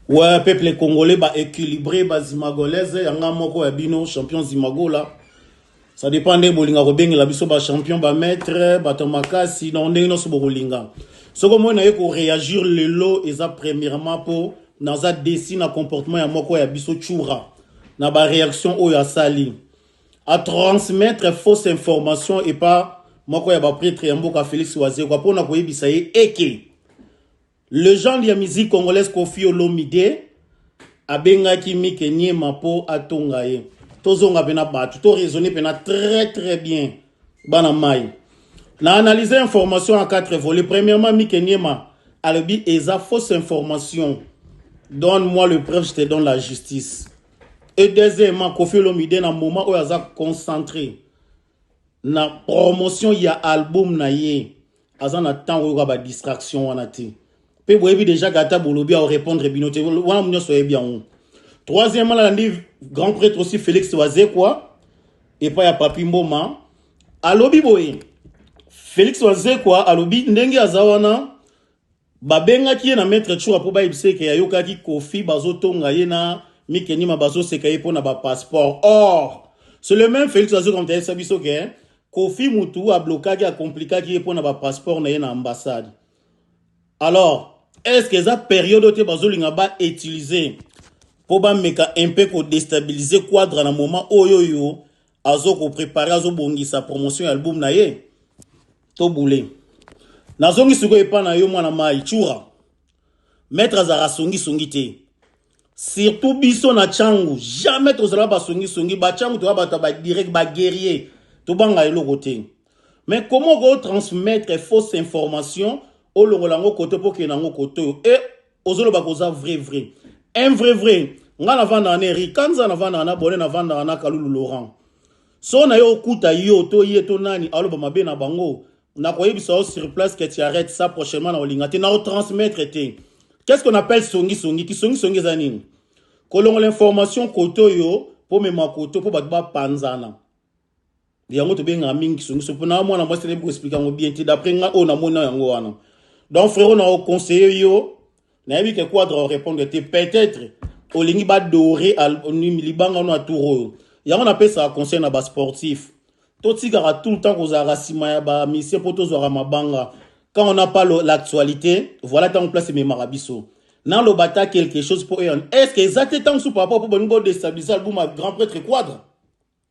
Ouais, peuple congolais ba équilibré ba zimagolaise yanga moko ya bino champion zimagola. Ça dépend de bolinga ko bengela biso ba champion ba maître ba tomakasi na ndenge no sobo kolinga. Soko moi na ye ko réagir lelo eza premièrement po naza déçu na comportement ya moko ya biso tchoura na ba réaction oyo asali. a transmettre fausse information epa moko ya ba pretre ya mboka Felix Wazekwa pona koyebisa ye eke legende ya musique congolaise Koffi Olomide abengaki Mike Niema po atonga ye tozonga pena batu to raisonner pena très très bien bana mai na analyse information en quatre volets premièrement Mike Niema alobi eza fausse information donne moi le preuve je te donne la justice Et deuxièmement, Kofi Olomide na moment oyo aza concentré na promotion ya album na ye aza na temps oyoka ba distraction wana te mpe boyebi déjà gata bolobi ao répondre bino te wana nyonso oyebi yango troisièmement nalandi grand prêtre aussi félix wazekwa epai ya papi mboma alobi boye félix wazekwa alobi ndenge aza wana Babengaki ye na Maitre Choura mpo bayebisa ye ke ayokaki Koffi bazotonga ye na Mike Niema bazoseka ye mpo na ba passeport. Or, c'est le meme Felix azwi komite ayebisa biso ke Koffi mutu ablokaki, acomplikaki ye mpo na ba passeport na ye na ambassade. Alors, est ce que eza periode oyo te bazolinga ba utiliser mpo bameka un peu ko destabiliser Quadra na moment oyo oyo azo ko prepare azo bongisa promotion ya album na ye to bule nazongi sikoyo epa na yo mwana mai chura maître azalaka songisongi te surtout biso na changu jamais tozalaka basongisongi bachangu toza bato ya badirect baguerrier tobanga eloko te mais comment okotransmettre fausse information olongola yango koto mpo okende yango koto oyo e ozoloba koza vrai vrai un vrai vrai nga navandaka na eri kanza navandaka na bone navandaka na kalulu laurent so na yo okuta yo to ye to nani aloba mabe na bango nakoyebisa yo sur place que tu arrête ça prochainement na olinga te na otransmettre te qu'est ce qu'on appelle songi songi kisongi songi eza nini kolongola information kote oyo pomema kote mpo bato bapanzana yango tobengaka mingi kisongiso mpo na mwana mwasi nayebi koexplike yango bien te d'après nga oyo namoni na yango wana donc frero na oconseille yo nayebi ke quadre orépondre te peut-être olingi badore libanga no ya tour oyo yango napesaka conseil na basportif totikaka tout le temps kozalaka nsima ya bamisie mpo tozwaka mabanga quand on n'a pas l'actualité voilà ntango place ememaka biso naloba ata quelque chose mpo est ce que eza te ntango su par rapport mpo bolingi bodestabilise album ya grand prêtre quadre